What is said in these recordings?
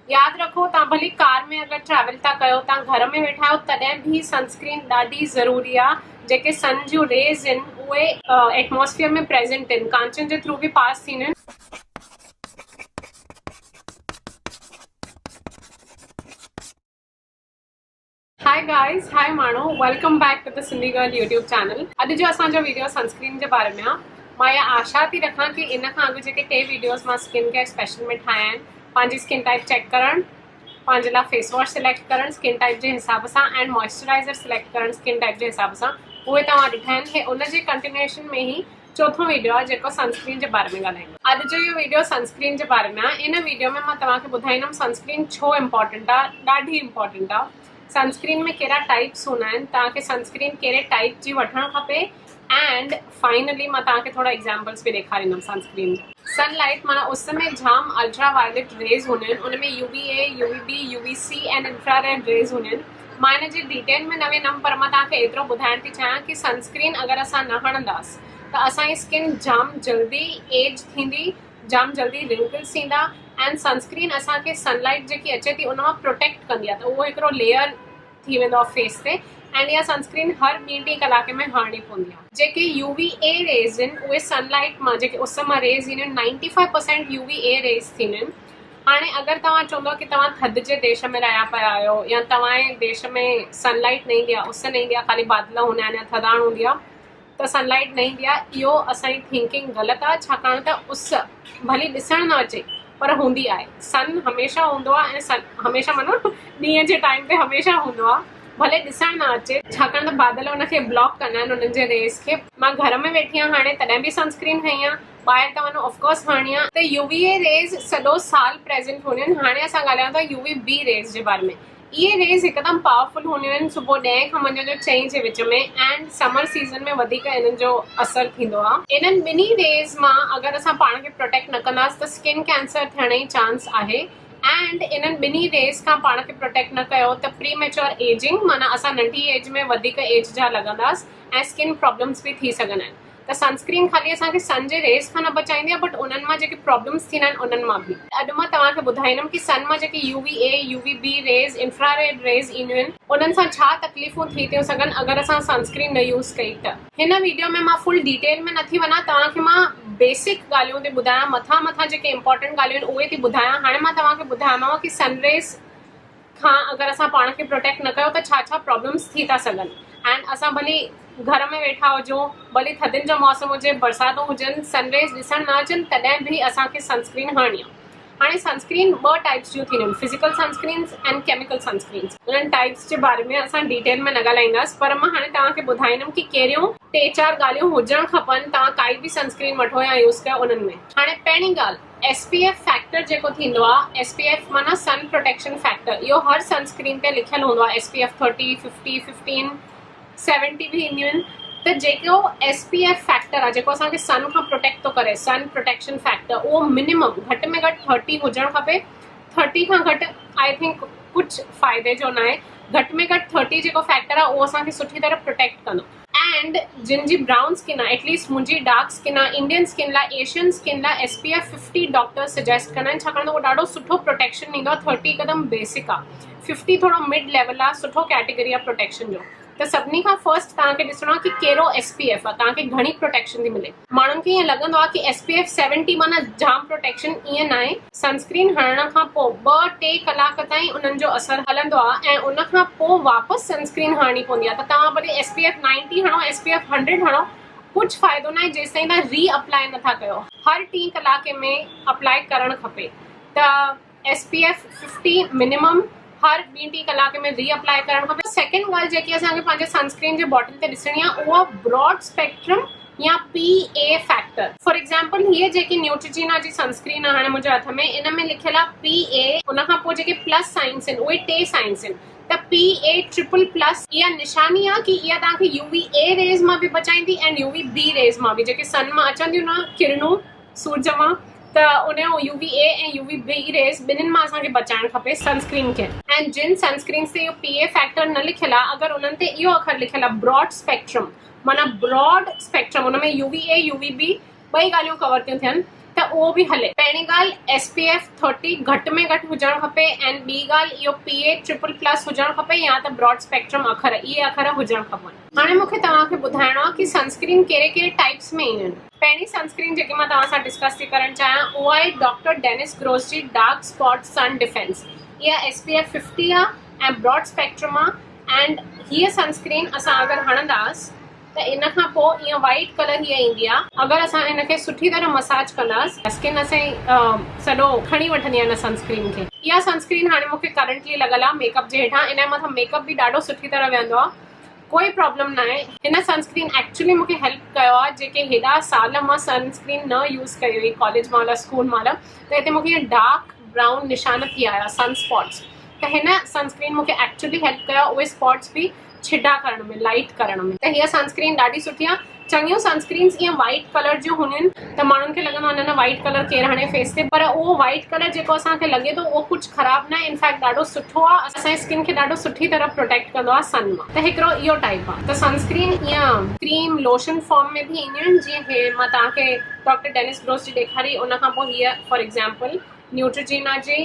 ياد رکو توهان ڀلي ڪار ۾ اگر ٽريول ٿا ڪيو توهان گهر ۾ ويٺا آهيو تڏهن به سن اسڪرين ڏاڍي ضروري آ جيڪي سن جون ريز ان اهي ايٽموسفيئر ۾ پريزنٽ ان ڪانچن جي ٿرو به پاس ٿينديون ان. Hi guys Hi ماڻهو Welcome back to the Sindhi Girl YouTube Channel اڄ جو اسان جو ويڊيو سنسڪرين جي باري ۾ آ مان يا آشا ٿي رکان ڪي ان کان اڳ جيڪي ٽي ويڊيوز مان سڪن ڪيئر اسپيشل ۾ ٺاهيا آهن پنهنجي سڪن ٽائپ چيڪ ڪرڻ پنهنجي لاء فيس واش سليڪٽ ڪرڻ سڪن ٽائپ جي حساب سان اينڊ موئسچرائزر سليڪٽ ڪرڻ سڪن ٽائپ جي حساب سان اهي توهان ڏٺا آهن هي ان جي ڪنٽينيوشن ۾ هي چوٿون ويڊيو آهي جيڪو سنسڪرين جي باري ۾ ڳالهائيندو. اڄ جو اهو ويڊيو سنسڪرين جي باري ۾ آهي. ان ويڊيو ۾ مان توهان کي ٻڌائيندم سنسڪرين ڇو امپارٽنٽ آهي. ڏاڍي امپارٽنٽ آهي. سنسڪرين ۾ ڪهڙا ٽائيپس هوندا آهن. توهان کي سنسڪرين ڪهڙي ٽائيپ جي وٺڻ کپي اينڊ فائنلي مان توهان کي ٿورا ايگزامپلس به ڏيکاريندم سنسڪرين جا. سن لائيٽ معنيٰ اس ۾ جام الٽرا وائليٽ ريز هونديون آهن. ان ۾ U V A, U V B, U V C and infrared rays هونديون آهن. مان ان جي ڊيٽيل ۾ نه ويندم پر مان توهان کي ايترو ٻڌائڻ ٿي چاهيان ڪي سن اسڪرين اگر اسان نه هڻنداس ته اسان جي اسڪن جام جلدي ايج ٿيندي جام جلدي رنڪلس ايندا اينڊ سن اسڪرين اسان کي سن لائيٽ جيڪي اچي ٿي ان مان پروٽيڪٽ ڪندي آهي ته اهو هڪڙو ليئر ٿي ويندو آهي فيس تي اينڊ اها سن اسڪرين هر ٻي ٽي ڪلاڪ ۾ هڻڻي پوندي آهي جيڪي يو وي اي ريز اهن اهي سن لائيٽ مان جيڪي اس مان ريز اينديون آهن ninety five percent U V A rays ٿينديون آهن هاڻي اگر توهان چوندؤ ڪي توهان ٿڌ جي ديش ۾ رهيا پيا آهيو يا توهان جي ديش ۾ سن لائيٽ نه ايندي آهي اس نه ايندي آهي خالي بادل هوندا آهن يا ٿڌاڻ هوندي آهي ته سن لائيٽ نه ايندي آهي اهو اسان جي ٿينڪنگ غلط آهي ڇاڪاڻ ته اس ڀلي ڏسڻ نه اچي پر هوندي آهي سن هميشه هوندو آهي ۽ سن هميشه معنيٰ ڏينهن جي ٽائيم تي هميشه هوندو آهي ڀلي ڏسڻ نه اچي ڇاڪاڻ ته بادل ان کي بلاڪ ڪندا آهن انهن جي ريز کي مان گهر ۾ ويٺي آهيان هاڻي تڏهن به سنسڪرين هنئي آهي ٻاهر ته وڃو اف ڪورس هاڻي آ ته يو وي اي ريز سڄو سال پريزنٽ هونديون آهن هاڻي اسان ڳالهايون ٿا يو وي بي ريز جي باري ۾ اهي ريز هڪدم پاورفل هونديون آهن صبح ڏهين کان منجهند جو چئين جي وچ ۾ اينڊ سمر سيزن ۾ وڌيڪ انهن جو اثر ٿيندو آ انهن ٻنهي ريز مان اگر اسان پاڻ کي پروٽيڪٽ نه ڪنداس ته سڪن ڪينسر ٿيڻ جي چانس آهي اينڊ انهن ٻنهي ريز کان پاڻ کي پروٽيڪٽ نه ڪيو ته پري ميچور ايجنگ معنيٰ اسان ننڍي ايج ۾ وڌيڪ ايج جا لڳنداس ۽ سڪن پرابلمس به ٿي سگهن آهن ته سنسڪرين خالي اسان کي سن جي ريز کان نه بچائيندي آهي بٽ انهن مان جيڪي پرابلمز ٿيندا آهن انهن مان به. اڄ مان توهان کي ٻڌائيندم ڪي سن مان جيڪي U V A, U V B rays, infrared rays اينديون آهن انهن سان ڇا تڪليفون ٿي ٿيون سگهن اگر اسان سنسڪرين نه يوز ڪئي ته. هن ويڊيو ۾ مان فل ڊيٽيل ۾ نه ٿي وڃان توهان کي مان بيسڪ ڳالهيون ٿي ٻڌايان مٿان مٿان جيڪي امپارٽنٽ ڳالهيون آهن اهي ٿي ٻڌايان هاڻي مان توهان کي ٻڌايوماوان ڪي سن ريز کان اگر اسان پاڻ کي پروٽيڪٽ نه ڪيو ته ڇا ڇا پرابلمس ٿي ٿا سگهن اينڊ اسان ڀلي گهر ۾ ويٺا هجون ڀلي ٿڌين جو موسم هجي برساتون هجن سن ريز ڏسڻ نه اچن تڏهن به اسان کي سن اسڪرين هڻڻي آ هاڻي سن اسڪرين ٻه ٽائپس جون ٿينديون آهن physical sunscreens and chemical sunscreens انهن ٽائپس جي باري ۾ اسان ڊيٽيل ۾ نه ڳالهائينداس پر مان هاڻي توهان کي ٻڌائيندم ڪي ڪهڙيون ٽي چار ڳالهيون هجڻ کپن توهان ڪائي به سن اسڪرين وٺو يا يوز ڪيو انهن ۾ هاڻي پهرين ڳالهه ايس پي ايف فيڪٽر جيڪو ٿيندو آ ايس پي ايف معنيٰ سن پروٽيڪشن فيڪٽر اهو هر سن سڪرين تي لکيل هوندو آ S P F thirty fifty fifteen seventy به اينديون آهن ته جيڪو ايس پي ايف فيڪٽر آ جيڪو اسان کي سن کان پروٽيڪٽ ٿو ڪري سن پروٽيڪشن فيڪٽر اهو منيمم گهٽ ۾ گهٽ ٿرٽي هجڻ کپي ٿرٽي کان گهٽ آئي ٿنڪ ڪجهه فائدي جو ناهي گهٽ ۾ گهٽ ٿرٽي جيڪو فيڪٽر آ اهو اسان کي سٺي طرح پروٽيڪٽ ڪندو اينڊ جن جي برائون اسڪن آهي ايٽ ليسٽ منهنجي ڊارڪ اسڪن آهي انڊين اسڪن لاء ايشين اسڪن لاء S P F fifty doctors suggest ڪندا آهن ڇاڪاڻ ته اهو ڏاڍو سٺو پروٽيڪشن ڏيندو آهي ٿرٽي هڪدم بيسڪ آهي ففٽي ٿورو مڊ ليول آهي سٺو ڪيٽيگري آهي پروٽيڪشن جو ته سڀني کان فرسٽ تهان کي ڏسڻو آهي ڪي ڪهڙو ايس پي ايف آهي تهان کي گهڻي پروٽيڪشن ٿي ملي ماڻهن کي ائين لڳندو آهي ته ايس پي ايف سيونٽي معنيٰ جام پروٽيڪشن، ائين ناهي. سن اسڪرين هڻڻ کان پوء ٻه ٽي ڪلاڪ تائين انهن جو اثر هلندو آهي ۽ ان کان پوء واپس سن اسڪرين هڻڻي پوندي آهي ته توهان ڀلي ايس پي ايف نائنٽي هڻو ايس پي ايف هنڊريڊ هڻو ڪجهه فائدو ناهي جيستائين توهان ري اپلائي نٿا ڪيو هر ٽي ڪلاڪ ۾ اپلائي ڪرڻ کپي ته S P F fifty minimum هر ٻي ٽي ڪلاڪ ۾ ري اپلائي ڪرڻ کپي سيڪنڊ ڳالهه جيڪي اسان کي پنهنجي سنسڪرين جي باٽل تي ڏسڻي آهي اها براڊ اسپيڪٽرم يا P A factor for example هيء جيڪي نيوٽرجينا جي سنسڪرين آهي هاڻي منهنجي هٿ ۾ ان ۾ لکيل آهي پي اي ان کان پوء جيڪي پلس سائنس آهن اهي ٽي سائنس آهن ته پي اي ٽرپل پلس اها نشاني آهي ڪي اها توهان کي يو وي اي ريز مان به بچائيندي and U V B rays مان به جيڪي سن مان اچن ٿيون نه ڪرنون سورج مان ته ان جون U V A ۽ U V B rays ٻنهين مان اسان کي بچائڻ کپي سن اسڪرين کي. ۽ جن سن اسڪرينز تي اهو پي اي فيڪٽر نه لکيل آهي اگر انهن تي اهو اکر لکيل آهي براڊ اسپيڪٽرم معنيٰ براڊ اسپيڪٽرم ان ۾ U V A U V B ٻئي ڳالهيون ڪور ٿيون ٿين ته اهو به هلي. پهرين ڳالهه ايس پي ايف ٿرٽي گهٽ ۾ گهٽ هجڻ کپي ۽ ٻي ڳالهه اهو پي اي ٽرپل پلس هجڻ کپي يا ته براڊ اسپيڪٽرم اکر اهي اکر هجڻ کپن. هاڻي مون کي توهان کي ٻڌائڻو آهي ڪي سن اسڪرين ڪهڙي ڪهڙي ٽائيپس ۾ اينديون آهن. پهرين سن اسڪرين جيڪي مان توهان سان ڊسڪس ٿي ڪرڻ چاهيان اها آهي ڊاڪٽر ڊينس گروس جي ڊارڪ اسپاٽ سن ڊفينس اها ايس پي ايف ففٽي آهي ۽ براڊ اسپيڪٽرم آهي اينڊ هيء سن اسڪرين اسان اگر هڻنداس ته ان کان پوء ائين وائٽ ڪلر هيء ايندي آهي اگر اسان هن کي سٺي طرح مساج ڪنداس اسڪن اسين سڄو کڻي وٺندي آهي ان سن اسڪرين کي اها سن اسڪرين هاڻي مونکي ڪرنٽلي لڳل آهي ميڪ اپ جي هيٺان ان جي مٿان ميڪ اپ به ڏاڍو سٺي طرح ويهندو آهي ڪوئي پرابلم ناهي هن سن اسڪرين ايڪچلي مونکي هيلپ ڪيو آهي جيڪي هيڏا سال مان سن اسڪرين نه يوز ڪئي هئي ڪاليج مهل اسڪول مهل ته هتي مونکي ائين ڊارڪ برائون نشان ٿي آيا سن اسپاٽس ته هن سن اسڪرين مونکي ايڪچلي هيلپ ڪيو آهي اهي اسپاٽس به ڇڊا ڪرڻ ۾ لائٽ ڪرڻ ۾ ته هيء سن اسڪرين ڏاڍي سٺي آهي چڱيون سنسڪرينز ايئن وائيٽ ڪلر جون هونديون ته ماڻهن کي لڳندو آهي نه نه وائيٽ ڪلر ڪير هڻي فيس تي پر اهو وائيٽ ڪلر جيڪو اسان کي لڳي ٿو اهو ڪجهه خراب ناهي انفيڪٽ ڏاڍو سٺو آهي اسان جي سڪن کي ڏاڍو سٺي طرح پروٽيڪٽ ڪندو آهي سن مان ته هڪڙو اهو ٽائيپ آهي ته سنسڪرين ايئن ڪريم لوشن فارم ۾ به اينديون آهن جيئن هي مان توهان کي ڊاڪٽر ڊينس گروس جي ڏيکاري ان کان پوء هيء فار ايگزامپل نيوٽريجينا جي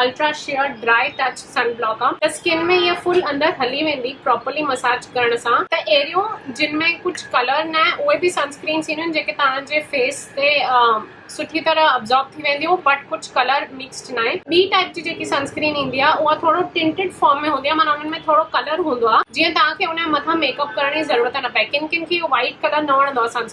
ultra sheer dry touch sun block آ ته اسڪن ۾ هيء فل اندر هلي ويندي پراپرلي مساج ڪرڻ سان. ته اهڙيون جن ۾ ڪجهه ڪلر نه اهي به سن اسڪرينس اينديون آهن جيڪي توهان جي فيس تي سٺي طرح ابزارب ٿي وينديون بٽ ڪجهه ڪلر مڪسڊ ناهي. ٻي ٽائيپ جي جيڪي سن اسڪرين ايندي آ اها ٿورو ٽنٽڊ فارم ۾ هوندي آ معنيٰ انهن ۾ ٿورو ڪلر هوندو آ جيئن توهان کي ان جي مٿان ميڪ اپ ڪرڻ جي ضرورت نه پئي ڪن ڪن کي اهو وائيٽ ڪلر نه وڻندو آ سن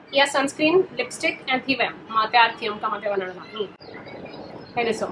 اها سنسڪرين لپسٽڪ ۽ ٿي ويم مان تيار ٿيم ڪم تي وڃڻ لاء هي ڏسو.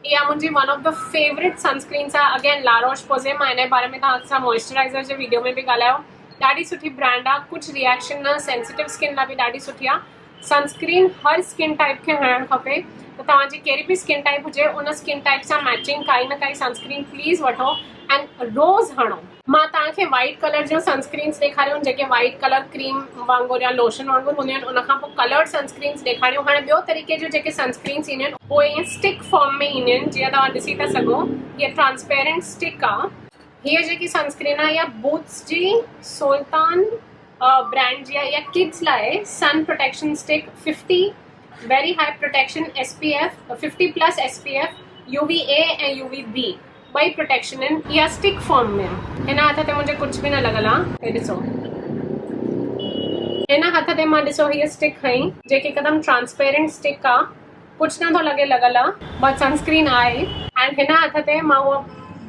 اها منهنجي one of the favourite sunscreens آهي اگين لا روش پوزي مان ان باري ۾ توهان سان موئسچرائزر جي ويڊيو ۾ به ڳالهايو ڏاڍي سٺي برانڊ آهي ڪجهه ريئڪشن نه سينسيٽو اسڪن لاء به ڏاڍي سٺي آهي سنسڪرين هر اسڪن ٽائپ کي هڻڻ کپي ته توهان جي ڪهڙي به اسڪن ٽائپ هجي ان اسڪن ٽائپ سان ميچنگ ڪائي نه ڪائي سنسڪرين پليز وٺو اينڊ روز هڻو مان توهان کي وائيٽ ڪلر جون سنسڪرينز ڏيکاريون جيڪي وائيٽ ڪلر ڪريم وانگر يا لوشن وانگر هونديون آهن ان کان پوء ڪلرڊ سنسڪرينز ڏيکاريون هاڻي ٻيو طريقي جون جيڪي سنسڪرينز اينديون آهن اهي ائين اسٽڪ فارم ۾ اينديون آهن جيئن توهان ڏسي ٿا سگهو هيء ٽرانسپيرنٽ اسٽڪ آهي هيء جيڪي سنسڪرين آهي اها بوتس جي سولتان برانڊ جي آهي اها ڪڊز لاء sun protection stick fifty very high protection S P F fifty plus S P F U V A ۽ U V B ٻئي پروٽيڪشن ان اها اسٽڪ فارم ۾ آ. هن هٿ تي منهنجي ڪجهه به نه لڳل آ. هي ڏسو. هن هٿ تي مان ڏسو هيء اسٽڪ کنئي جيڪي هڪدم ٽرانسپيرنٽ اسٽڪ آ. ڪجهه نه ٿو لڳي لڳل آ. بس سنسڪرين آ ئي. اينڊ هن هٿ تي مان اها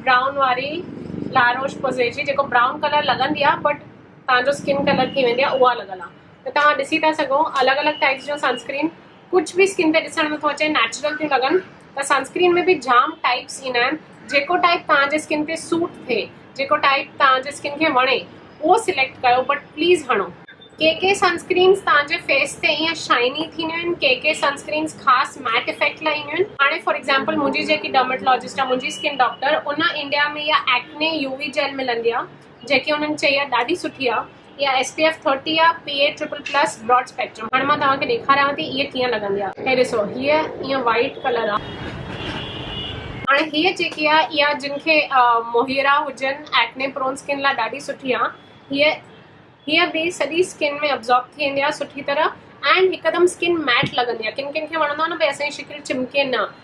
برائون واري لا روش پوزي جي جيڪو برائون ڪلر لڳندي آ بٽ تهان جو اسڪن ڪلر ٿي ويندي آ اها لڳل آ. ته توهان ڏسي ٿا سگهو الڳ الڳ ٽائيپس جون سنسڪرين ڪجھ به اسڪن تي ڏسڻ ۾ ٿو اچي نيچرل ٿيون لڳن ته سنسڪرين ۾ به جام ٽائيپس ايندا آهن جيڪو ٽائيپ توهان جي اسڪن تي سوٽ ٿئي جيڪو ٽائيپ توهان جي اسڪن کي وڻي اهو سليڪٽ ڪيو بٽ پليز هڻو. ڪي ڪي سنسڪرينز توهان جي فيس تي ائين شائني ٿينديون آهن ڪي ڪي سنسڪرينز خاص ميٽ افيڪٽ لاء اينديون آهن هاڻي فار ايگزامپل منهنجي جيڪي ڊرماٽولاجسٽ آهي منهنجي اسڪن ڊاڪٽر ان انڊيا ۾ اها ايڪني يو وي جيل ملندي آهي جيڪي انهن چئي آ ڏاڍي سٺي آ اها ايس پي ايف ٿرٽي آ P A triple plus broad spectrum هاڻي مان توهان کي ڏيکاريان ٿي اهي ڪيئن لڳندي آ هي ڏسو هيء ائين وائيٽ ڪلر آ هاڻي هيء جيڪي آ اها جن کي موهيرا هجن ايڪني پرون اسڪن لاء ڏاڍي سٺي آ هيء هيء به سڄي اسڪن ۾ ابزارب ٿي ويندي آ سٺي طرح اينڊ هڪدم اسڪن ميٽ لڳندي آ ڪن ڪن کي وڻندو آ نه ڀئي اسان جي شڪل چمڪي نه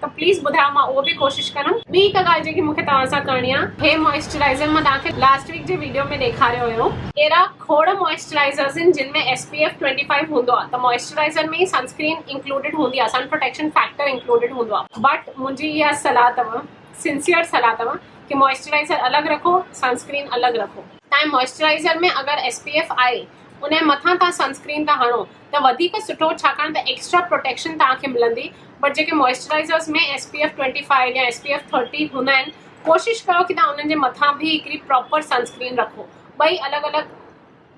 ته پليز ٻڌايو مان اهو به ڪوشش ڪندم. ٻي هڪ ڳالهه جيڪي مونکي توهان سان ڪرڻي آ هي موئسچرائزر مان توهان کي لاسٽ ويڪ جي ويڊيو ۾ ڏيکاريو هيو. اهڙا کوڙ موئسچرائزرز آهن جن ۾ S P F twenty five هوندو آ ته موئسچرائزر ۾ ئي سن اسڪرين انڪلوڊيڊ هوندي آ سن پروٽيڪشن فيڪٽر انڪلوڊيڊ هوندو آ بٽ منهنجي اها صلاح تؤ سنسيئر صلاح تؤ ڪي موئسچرائزر الڳ رکو سن اسڪرين الڳ رکو. تائين موئسچرائزر ۾ اگر ايس پي ايف آهي انهي مٿان توهان سن اسڪرين ٿا هڻو ته وڌيڪ سٺو ڇاڪاڻ ته ايڪسٽرا پروٽيڪشن توهان کي ملندي بٽ جيڪي moisturisers ۾ S P F twenty five يا ايس پي ايف ٿرٽي هوندا آهن ڪوشش ڪيو ڪي توهان انهن جي مٿان به هڪڙي پراپر سنسڪرين رکو ٻئي الڳ الڳ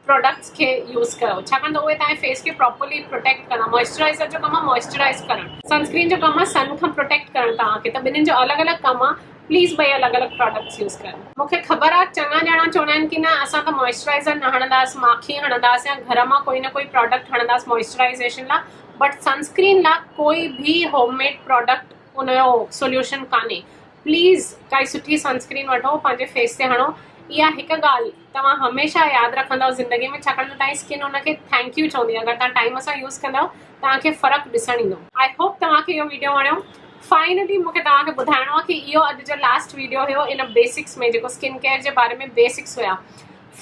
پروڊڪٽس کي يوز ڪيو ڇاڪاڻ ته اهي توهان فيس کي پراپرلي پروٽيڪٽ ڪندا موئسچرائزر جو ڪم آهي موئسچرائز ڪرڻ سنسڪرين جو ڪم آهي سن کان پروٽيڪٽ ڪرڻ توهان کي ته ٻنهن جو الڳ الڳ ڪم آهي پليز ٻئي الڳ الڳ پراڊڪٽس يوز ڪريو. مونکي خبر آ چڱا ڄڻا چوندا آهن ڪي نه اسان ته موئسچرائيزر نه هڻنداس ماکي هڻنداس يا گهر مان ڪوئي نه ڪوئي پراڊڪٽ هڻنداس موئسچرائيزيشن لا بٽ سنسڪرين لا ڪوئي ڀي هوم ميڊ پراڊڪٽ ان جو سوليوشن ڪانهي پليز ڪائي سٺي سنسڪرين وٺو پنهنجي فيس تي هڻو اها هڪ ڳالهه توهان هميشه ياد رکندؤ زندگي ۾ ڇاڪاڻ ته تهانجي سڪن ان کي ٿينڪ يو چوندي اگر توهان ٽائيم سان يوز ڪندؤ توهان کي فرق ڏسڻ ايندو. آئي هوپ توهان کي اهو ويڊيو وڻيو فائنلي مونکي توهان کي ٻڌائڻو آهي ڪي اهو اڄ جو لاسٽ ويڊيو هيو ان بيسڪس ۾ جيڪو سڪن ڪيئر جي باري ۾ بيسڪس هيا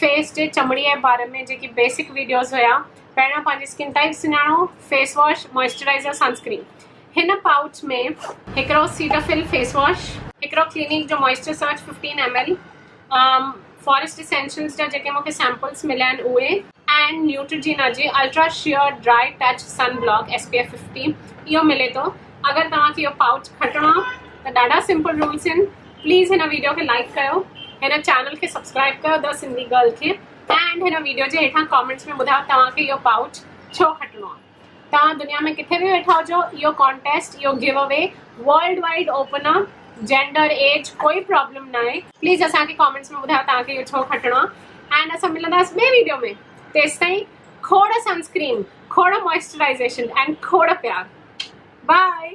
فيس جي چمڙي جي باري ۾ جيڪي بيسڪ ويڊيوز هيا پهريان پنهنجي سڪن ٽائيپ سڃاڻو فيس واش موئسچرائزر سنسڪرين هن پائوچ ۾ هڪڙو سيٽافيل فيس واش هڪڙو ڪلينڪ جو moisture surge fifteen M L Forest Essentials جا جيڪي مونکي سيمپلز مليا آهن اهي. اينڊ نيوٽرجينا جي ultra sheer dry touch sun block S P F fifty اهو ملي ٿو اگر توهان کي اهو پائوچ کٽڻو آهي ته ڏاڍا سمپل رولز آهن پليز هن ويڊيو کي لائڪ ڪيو هن چينل کي سبسڪرائب ڪيو دا سنڌي گرل کي اينڊ هن ويڊيو جي هيٺان ڪامينٽس ۾ ٻڌايو توهان کي اهو پائوچ ڇو کٽڻو آهي. توهان دنيا ۾ ڪٿي به ويٺا هجو اهو ڪانٽيسٽ اهو giveaway worldwide open آ جينڊر ايج ڪوئي پرابلم ناهي. پليز اسان کي ڪامينٽس ۾ ٻڌايو توهان کي اهو ڇو کٽڻو آ اينڊ اسان ملنداس ٻي ويڊيو ۾ تيستائين کوڙ سنسڪرين کوڙ موئسچرائيزيشن اينڊ کوڙ پيار بائي.